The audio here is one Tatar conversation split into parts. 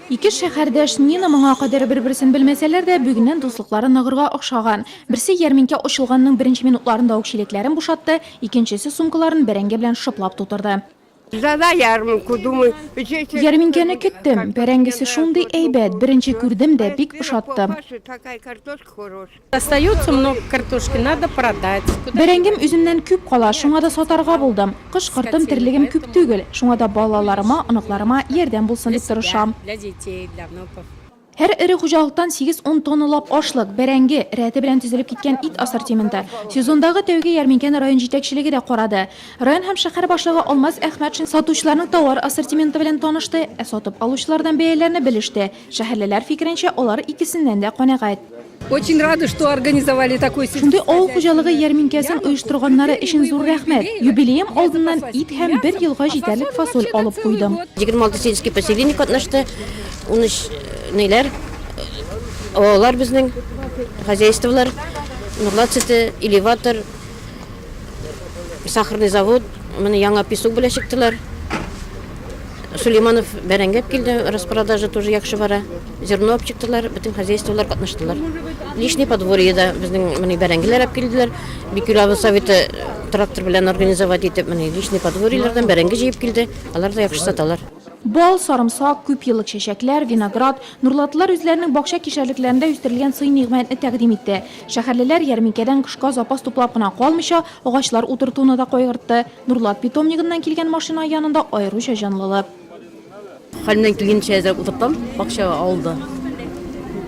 Ике шәһәрдәш Нина моңа кадәр бер-берсен белмәсәләр дә, бүгеннән дуслыклары ныгырга охшаган. Берсе ярминкә ачылганның беренче минутларында ук чиләкләрен бушатты, икенчесе сумкаларын бәрәңге белән шыплап тутырды. Ждала ярминку, думаю, җәй чәчү. Ярминкәне көттем. Бәрәңгесе шундый әйбәт, беренче күрдем дә, бик ошатты. Бәрәңгем үземнән күп кала, шуңа да сатарга булдым. Кыш кыртым терлегем күп түгел, шуңа да балаларыма, оныкларыма ярдәм булсын дип тырышам. Һәр эре хуҗалыктан сигез-ун тонналап ашлык, бәрәңге, рәте белән төзелеп киткән ит ассортименты. Сезондагы тәүге ярминкәне район җитәкчелеге дә карады. Район һәм шәһәр башлыгы Алмаз Әхмәтшин сатучыларның товар ассортименты белән танышты, ә сатып алучылардан бәяләрне белеште. Шәһәрлеләр фикеренчә, алар икесеннән дә канәгать. Очень рада, что организовали такой Шундый авыл хуҗалыгы ярминкәсен оештырганнары өчен зур рәхмәт. Юбилеем алдыннан ит һәм бер елга җитәрлек фасоль алып куйдым. 26 сельский поселение катнашты. 13 ниләр, авыллар безнең, хозяйстволар, Нурлат сөте, элеватор, Сахарный завод, менә яңа песок белән чыктылар. Сулейманов бәрәңгәп килде, распродажа тоже яхшы бара. Зерно алып чыктылар, бөтен хозяйстволар катнаштылар. Лишний подворье да безнең менә бәрәңгеләр алып килделәр. Бикүләбе советы трактор белән организовать итеп, менә лишний подворьелардан бәрәңге җыеп килде. Алар да яхшы саталар. Бал, сарымсак, күп еллык чәчәкләр, виноград. Нурлатлылар үзләренең бакча кишәрлекләрендә үстерелгән сый-нигъмәтне тәкъдим итте. Шәһәрлеләр ярминкәдән кышка запас туплап кына калмыйча, агачлар утыртуны да кайгыртты. Нурлат питомнигыннан килгән машина янында аеруча җанлылык. Хәлемнән килгәнчә әзерләп утыртам. Бакчага авылда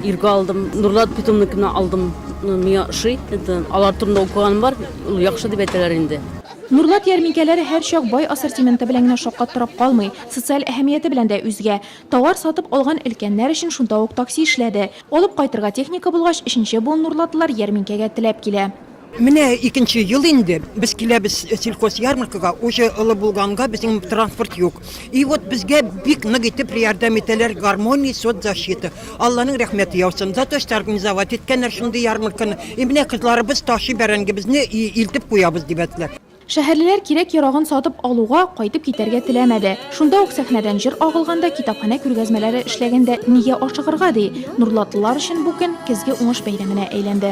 иргә алдым. Нурлат питомнигына алдым. Миңа ошый. Это алар турында укыганым бар. Ул яхшы дип әйтәләр инде. Нурлат ярминкәләре һәрчак бай ассортименты белән генә шаккаттырып калмый, социаль әһәмияте белән дә үзгә. Товар сатып алган өлкәннәр өчен шунда ук такси эшләде. Алып кайтырга техника булгач, өченче буын нурлатылар ярминкәгә теләп килә. Менә икенче ел инде без киләбез сельхозъярмаркага, уже олы булганга безнең транспорт юк. И вот безгә бик нык итеп рьярдәм итәләр Гармония соцзащита. Алланың рәхмәте яусын. За то что организовать иткәннәр шундый ярмарканы. И менә кызларыбыз ташый бәрәңгебезне и илтеп куябыз дибәтләр. Шәһәрлеләр кирәк-ярагын сатып алуга, кайтып китәргә теләмәде. Шунда ук сәхнәдән җыр агылганда, китапханә күргәзмәләре эшләгәндә нигә ашыгырга ди? Нурлатлылар өчен бу көн Көзге уңыш бәйрәменә әйләнде.